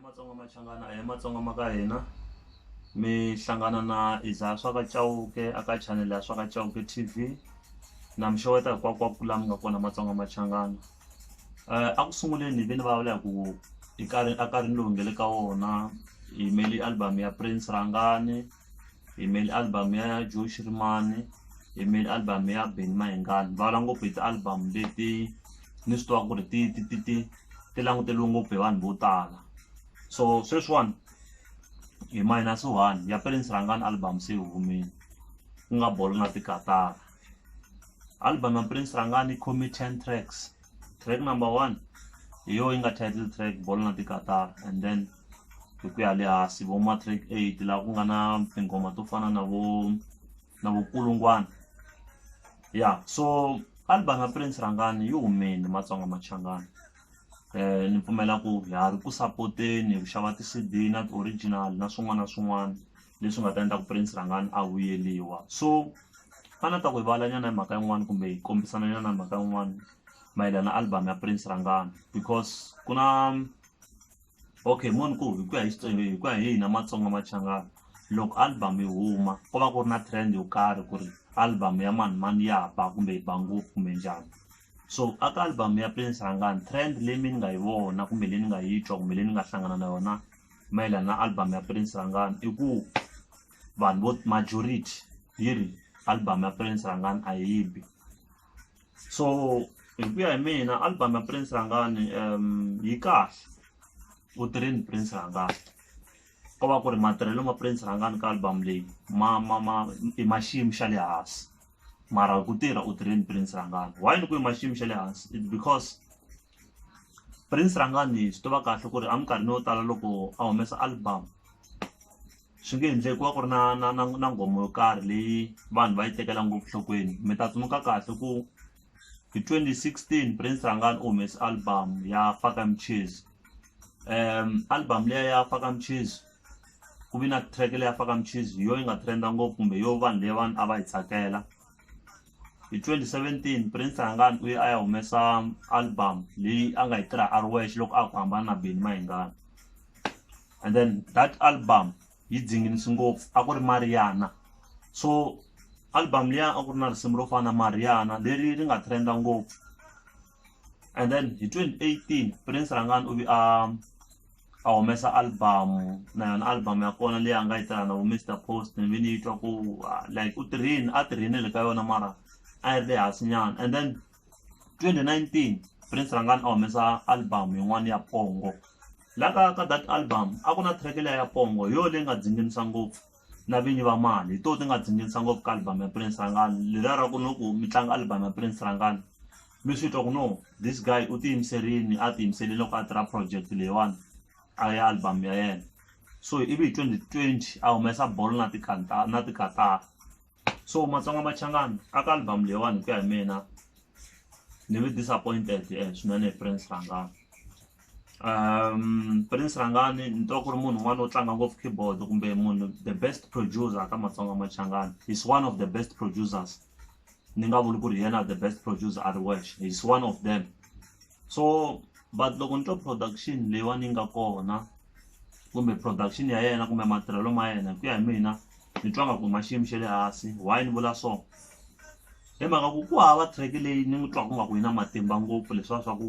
Matsonga Machangana a hi matsonga ma ka hina mi hlangana na Isaiah swa ka Chauke a ka chanele ya swa ka Chauke T_V na mi xeweta hinkwakunkwaku la mi nga kona Matsonga Machangana a ku sunguleni ni ve ni vulavula hi ku i nkarhi a nkarhini lowu hi nga le ka wona hi yimele album ya Prince Rhangani. yimel album ya josh rimani yimel album ya beni mahingani va vula ngopfu hi ti-album leti ni swi tivaka ku ri ti ti ti ti ti languteriwe ngopfu hi vanhu vo tala so sweswiwani hi minus one ya prince rhangani album se yi humile ku nga bolo na tikatara album ya prince rhangani comi ten tracks track number one hi yona yi nga title track bolo na tikatara and then hi ku ya le hansi vo matric eight laha ku nga na tinghoma to fana na vo na vo kulungwana ya so album ya prince rhangani yi humile matsonga machangani um ni pfumela ku ha ri ku sapoteni hi ku xava ti-C_D na ti-original na swin'wana na swin'wana leswi nga ta endla ku prince rhangani a vuyeliwa so a ni ta ku hi vulavulanyana hi mhaka yin'wani kumbe hi kombisana nyana hi mhaka yin'wani mayelana na album ya prince rhangani because ku na okay mo ni ku hi ku ya hi Xitsonga hi ku ya hi hina Matsonga Machangani loko album yi huma ko va ku ri na trend yo karhi ku ri album ya mani mani ya ba kumbe yi ba ngopfu kumbe njhani so a ka album ya Prince Rhangani trend leyi mi ni nga yi vona kumbe leyi ni nga yi twa kumbe leyi ni nga hlangana na yona mayelana na album ya Prince Rhangani i ku vanhu vo majority yi ri album ya Prince Rhangani a yi bi so hi ku ya hi mina album ya Prince Rhangani yi kahle u tirheni Prince Rhangani ko va ku ri matirhelo ma Prince Rhangani ka album leyi ma ma ma i ma xiyimo xa le hansi mara ku tirha u tirheni Prince Rhangani why ni ku i ma xiyimo xa le hansi it's because. Prince Rhangani swi tiva kahle ku ri a minkarhini yo tala loko a humesa album swi nge endleki ku va ku ri na na na na nghoma yo karhi leyi vanhu va yi tekela ngopfu nhlokweni mi ta tsundzuka kahle ku hi twenty sixteen Prince Rhangani u humese album ya faka michezi album liya ya faka michezi ku vi na track leyi ya faka michezi hi yo yi nga trend-a ngopfu kumbe yo vanhu leyiwani a va yi tsakela hi 2017 prince hangani u ye a ya humesa album leyi a nga yi tirha a ri wexe loko a ku hambana na beni mahingana and then that album yi dzinginisi ngopfu a ku ri mariana so album liya a ku ri na risimu ro fana mariana leri ri nga trenda ngopfu and then hi 2018 prince rangani u vi a a humesa album na yona album ya kona leyi a nga yi tirha na vo Mister Post ni vi ni yi twa ku ah, like u tirhini a tirhinile ka yona mara a yi ri le hansi nyana and then 2019 Prince Rangani a humesa album yin'wana ya pongo la ka ka that album a ku na track leya ya pongo hi yo leyi nga dzinginisa ngopfu na vinyi va mali hi to ti nga dzingirisa ngopfu ka album ya prince rangani leriya ra ku no ku mi tlanga album ya prince rangani mi swi twa ku no this guy u tiyimiserini a tiyimiserile loko a tirha project leyiwani a ya album ya yena so ivi hi twenty twenty a humesa bolo na na tikatara. so Matsonga Machangani a ka album leyiwani hi ku ya hi mina ni ve disappointed swinene hi Prince Rhangani Prince Rhangani ni twa ku ri munhu un'wana wo tlanga ngopfu keyboard kumbe munhu the best producer ka Matsonga Machangani he's one of the best producers ni nga vuli ku ri hi yena the best producer a ri wexe he's one of them. so but loko ni twa production leyiwani yi nga kona kumbe production ya yena kumbe matirhelo ma yena hi ku ya hi mina ni twa nga ku ma xiyimo xa le hansi why ni vula so hi mhaka ku ku hava track leyi ni n'wi twaka nga ku yi na matimba ngopfu leswiya swa ku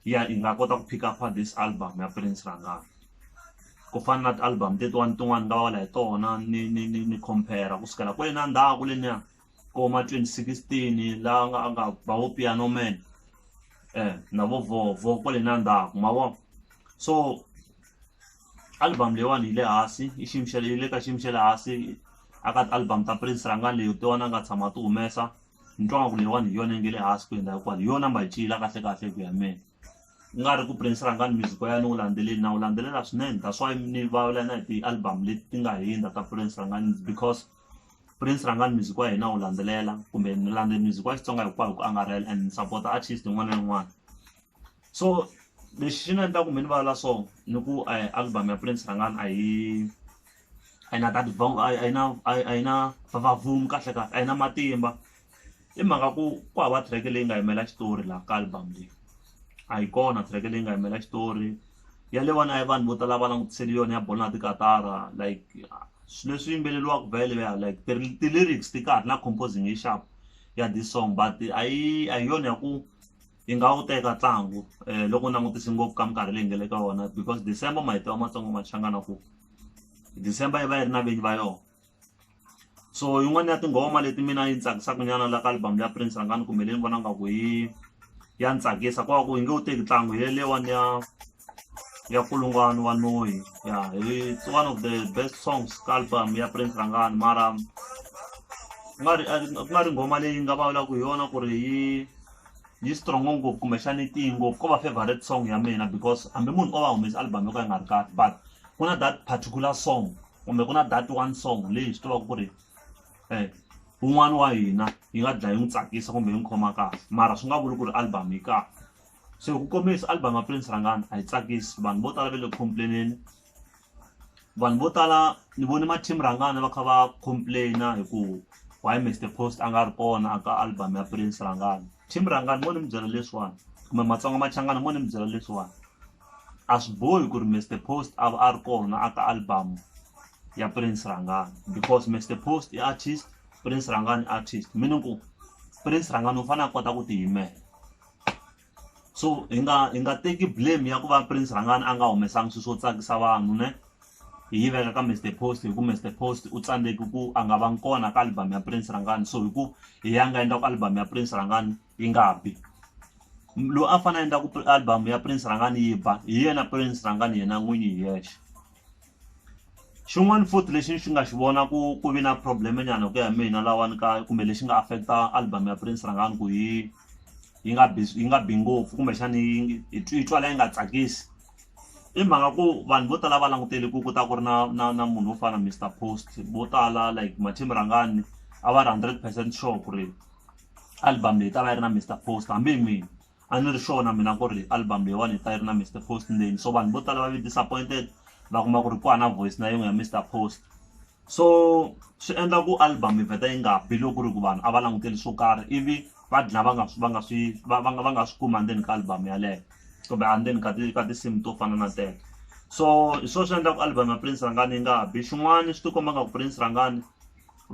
ya yi nga kota ku pick up this album ya Prince Rhangani ku fana na ti-album tetiwani tin'wani nga va va la hi tona ni ni ni ni compare ku sukela kwale na ndzhaku leniya vo ma twenty sixteen la nga a nga ba vo Piano Man na vo Vovo kwale na ndzhaku ma vo so album leyiwani yi le hansi i xiyimo xa le yi le ka xiyimo xa le hansi a ka ti album ta Prince rhanga leyi ti wona a nga tshama a ti humesa ni twa nga ku leyiwani hi yona yi nga le hansi ku hundza hinkwayo hi yona number yi ciyile kahle kahle hi ku ya hi mehe ku nga ri ku Prince rhangani music wa yena ni wu landzeleli na wu landzelela swinene that's why ni vulavula na hi ti-album leti ti nga hundza ta Prince rhangani because Prince rhangani music wa hina wu landzelela kumbe ni landze music wa Xitsonga hinkwayo hi ku angarhela and ni support artist yin'wana na yin'wana so lexi xi ni endla ku mi ni vulavula so ni ku album ya Prince rhangani a yi a yi na a yi na a yi na vavumi kahle kahle a yi na matimba. i mhaka ku ku hava track leyi nga yimela xitori laha ka album leyi a yi kona track leyi nga yimela xitori ya le vana ya vanhu vo tala va langutisele yona ya bolo na tikatara like swilo leswi yimbeleriwaka vhele ya like ti-lyrics ti kahle na composing yi xap ya this song but a yi a hi yona ya ku yi nga wu teka ntlangu um loko u langutise ngopfu ka minkarhi leyi nga le ka wona because december mahito ya matsongo ma changa na ku december yi va yi ri na vinyi va yona. so yin'wana ya tinghoma leti mina yi tsakisaka nyana la ka album ya prince rhangani kumbe leyi ni vona ngaku yi ya ni tsakisa kwa ku yi nge wu teki ntlangu hi lelewani ya ya kulungwani wa noyi ya it's one of the best songs ka album ya prince rhangani mara ku nga ri ku nga ri nghoma leyi nga vulavulaka hi yona ku ri yi yi strong ngopfu kumbexana yi tiyi ngopfu ko va favorite song ya mina because hambi munhu o va humesa album yo ka yi nga ri kahle but ku na that particular song kumbe ku na that one song leyi hi swi tivaka ku ri um un'wana wa hina yi nga dlaya yi n'wi tsakisa kumbe yi n'wi khoma kahle mara swi nga vuli ku ri album yi kahle se ku kombisa album ya prince rangani a yi tsakisi vanhu vo tala va le complaineni vanhu vo tala ni vone ma-team rangana va kha va complaina hi ku why mr post a nga ri kona aka album ya prince rangana team rangana mo ni mi byela leswiwani kumbe matsonga machangana mo ni mi byela leswiwani a swi bohi ku ri Mister Post a va a ri kona a ka album ya Prince Rhangani because Mister Post i artist Prince Rhangani i artist meaning ku Prince Rhangani u fane a kota ku ti yimela so hi nga hi nga teki blame ya ku va Prince Rhangani a nga humesangi swi swo tsakisa vanhu ne hi yi veka ka Mister Post hi ku Mister Post u tsandzeki ku a nga vangi kona ka album ya Prince Rhangani so hi ku hi ya nga endla ku album ya Prince Rhangani. yi nga bi loyi a fanele a endla ku album ya prince rhangani yi ba hi yena prince rhangani yena n'winyi hi yexe xin'wana futhi lexi xi nga xi vona ku ku vi na problem nyana ku ya mina lawani ka kumbe lexi nga affecta album ya prince rhangani ku yi yi nga bi yi nga bi ngopfu kumbexana yi yi twala yi nga tsakisi i mhaka ku vanhu vo tala va langutele ku ku ta ku ri na na na munhu wo fana Mister Post vo tala like Mathini Rhangani a va ri hundred percent sure ku ri album leyi ta va yi ri na Mister Post hambi hi mina a ni ri sure na mina ku ri album leyiwani yi ta yi ri na Mister Post ndzeni so vanhu vo tala va ve disappointed va kuma ku ri ku hana voice na yin'we ya Mister Post so swi endla ku album yi vheta yi nga bi loko ku ri ku vanhu a va languteli swo karhi ivi va dlina va nga swi va nga swi va va nga va nga swi kumi endzeni ka album yaleyo kumbe endzeni ka ti ka tinsimu to fana na teto so hi swona swi endlaka album ya Prince Rhangani yi nga bi xin'wana swi ti komba nga ku Prince Rhangani.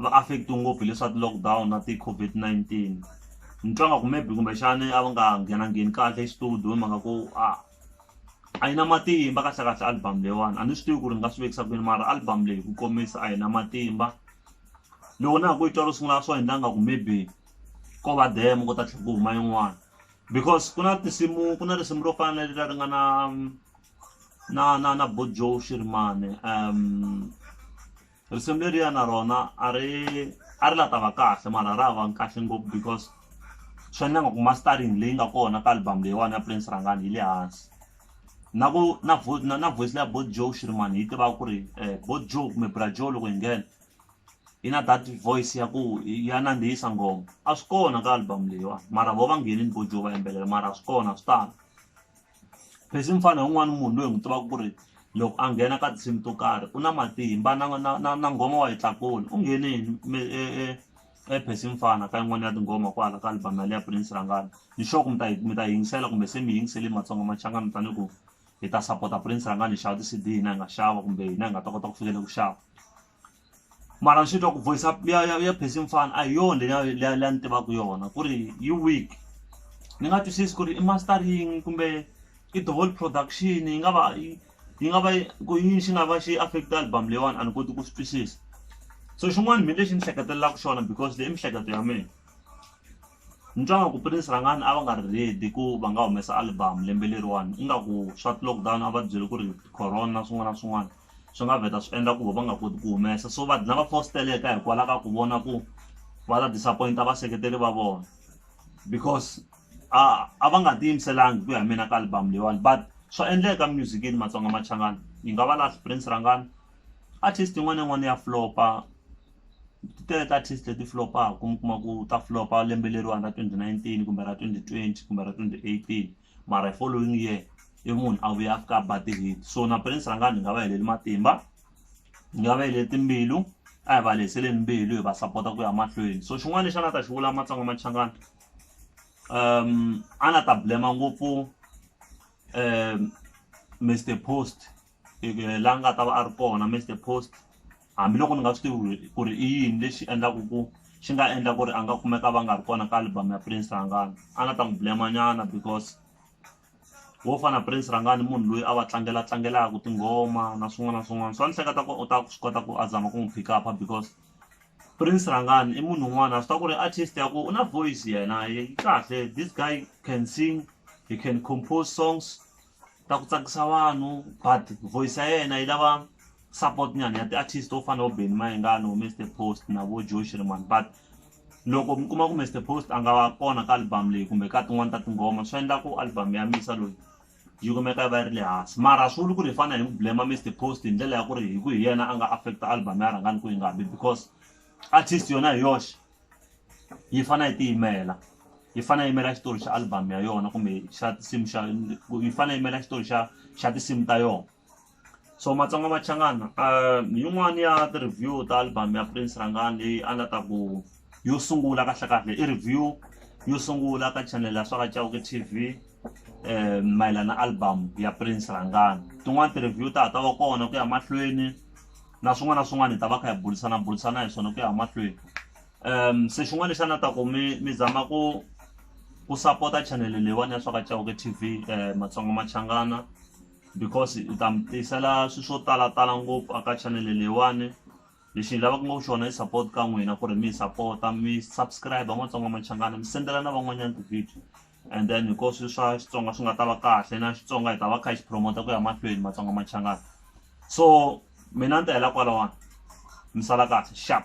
va affect-iwe ngopfu hi leswa ti-lockdown na ti-COVID-19 ni twa nga ku maybe kumbexani a va nga nghenangheni kahle exitudiyo hi mhaka ku a a yi na matimba kahlekahle album leyiwani a ni swi tivi ku ri ni nga swi vekisa ku yini mara album leyi ku komisa a yi na matimba loko na ha ku yi twa ro sungula swo endla nga ku maybe ko va demo ko ta tlhe ku huma yin'wana because ku na tinsimu ku na risimu ro fana na leri leri nga na na na na bo joe xirimani . risimu leriya na rona a ri a ri la ta va kahle mara ra ha va kahle ngopfu because swi endla nga ku mastering leyi nga kona ka album leyiwani ya prince rhangani yi le hansi na ku na vo na na voice leya bo joe shirimani yi tivaka ku ri um bo joe kumbe bra joe loko yi nghena yi na that voice ya ku ya nandzihisa nghoma a swi kona ka album leyiwani mara vo va nghenini bo joe va yimbelela mara a swi kona a swi tala phesi mi fana un'wana munhu loyi hi n'wi tivaka ku ri loko a nghena ka tinsimu to karhi u na matimba na na na na nghoma wa yi tlakula u nghenini mi e e e phesi mi fana ka yin'wana ya tinghoma kwala ka album yale ya prince rhangani ni sure ku mi ta yi mi ta yingisela kumbe se mi yingisele matsonga machanga mi tale ku hi ta sapota prince rhangani hi xava ti-cd hina hi nga xava kumbe hina hi nga ta kota ku fikela ku xava mara ni swi twa ku voice up ya ya ya phesi mfana a hi yona leya leya leya ni tivaka yona ku ri yi weak ni nga twisisi ku ri i mastering kumbe i the whole production yi nga va yi yi nga va ku yini xi nga va xi affect album leyiwani a ni koti ku swi twisisa so xin'wana mina lexi ni hleketelelaka xona because leyi i mihleketo ya mina ni twa nga ku Prince Rhangani a va nga ri ready ku va nga humesa album lembe leriwani ingaku swa ti-lockdown a va ti byele ku ri corona swin'wana na swin'wana swi nga vheta swi endla ku va va nga koti ku humesa so va dlina va fositeleka hikwalaho ka ku vona ku va ta disappoint vaseketeri va vona because a a va nga tiyimiselanga ku ya mina ka album leyiwani but swa endleka musicini matsonga machangani yi nga va last prince rhangani artist yin'wana na yin'wana ya flop-a ti tele ti artist leti flop-aka mi kuma ku ta flop-a lembe leriwani ra twenty nineteen kumbe ra twenty twenty kumbe ra twenty eighteen. mara hi following year i munhu a vuya ka ba ti-hit so na prince rhangani hi nga va heleli matimba hi nga va heleli timbilu a hi va lehiseleni mbilu hi va sapota ku ya mahlweni so xin'wana lexi a nga ta xi vula matsonga machangana um a na ta blema ngopfu um mr post la nga ta va a ri kona Mister Post hambiloko ni nga swi tivi ku ri i yini lexi endlaku ku xi nga endla ku ri a nga kumeka va nga ri kona ka album ya Prince Rhangani a ni ta n'wi blame-a nyana because wo fana na Prince Rhangani i munhu loyi a va tlangela tlangelaka tinghoma na swin'wana na swin'wana so a ni hleketa ku u ta swi kota ku a zama ku n'wi pick up-a because Prince Rhangani i munhu un'wana a swi tiva ku ri artist ya ku u na voice yena yi kahle this guy can sing he can compose songs. ta ku tsakisa vanhu but voice ya yena yi lava support nyana ya ti-artist to fana na vo Benny Mayengani vo Mister Post na vo Joe Shirimani but loko mi kuma ku Mister Post a nga kona ka album leyi kumbe ka tin'wani ta tinghoma swi endla ku album ya Misa loyi yi kumeka yi va yi ri le hansi mara a swi vuli ku ri hi fanele hi n'wi blame Mister Post hi ndlela ya ku ri hi ku hi yena a nga affect album ya Rhangani ku yi nga bi because artist yona hi yoxe. yi fane yi tiyimela yi fane yi yimela xitori xa album ya yona kumbe xa tinsimu xa yi fane yi yimela xitori xa xa tinsimu ta yona so Matsonga Machangana yin'wani ya ti-review ta album ya Prince Rhangani leyi a nga ta ku yo sungula kahle kahle i review yo sungula ka channel ya swa ka Chauke T_V mayelana album ya Prince Rhangani tin'wani ti-review ta ha ta va kona ku ya mahlweni. na swin'wana na swin'wana hi ta va kha hi burisana burisana hi swona ku ya mahlweni um se xin'wana lexi a na ta ku mi mi zama ku ku sapota chanele leyiwani ya swa ka chauke t v um matsonga machangana because hi ta mi tisela swilo swo talatala ngopfu aka chanele leyiwani lexi hi lavaka ngopfu xona i support ka n'wina ku ri mi hi sapota mi subscribe matsonga machangana mi sendela na van'wanyana ti-video And then because swa Xitsonga swi nga ta va kahle na Xitsonga hi ta va kha hi xi promote ku ya mahlweni Matsonga Machangani so mina ni ta hela kwalawani mi sala kahle xap.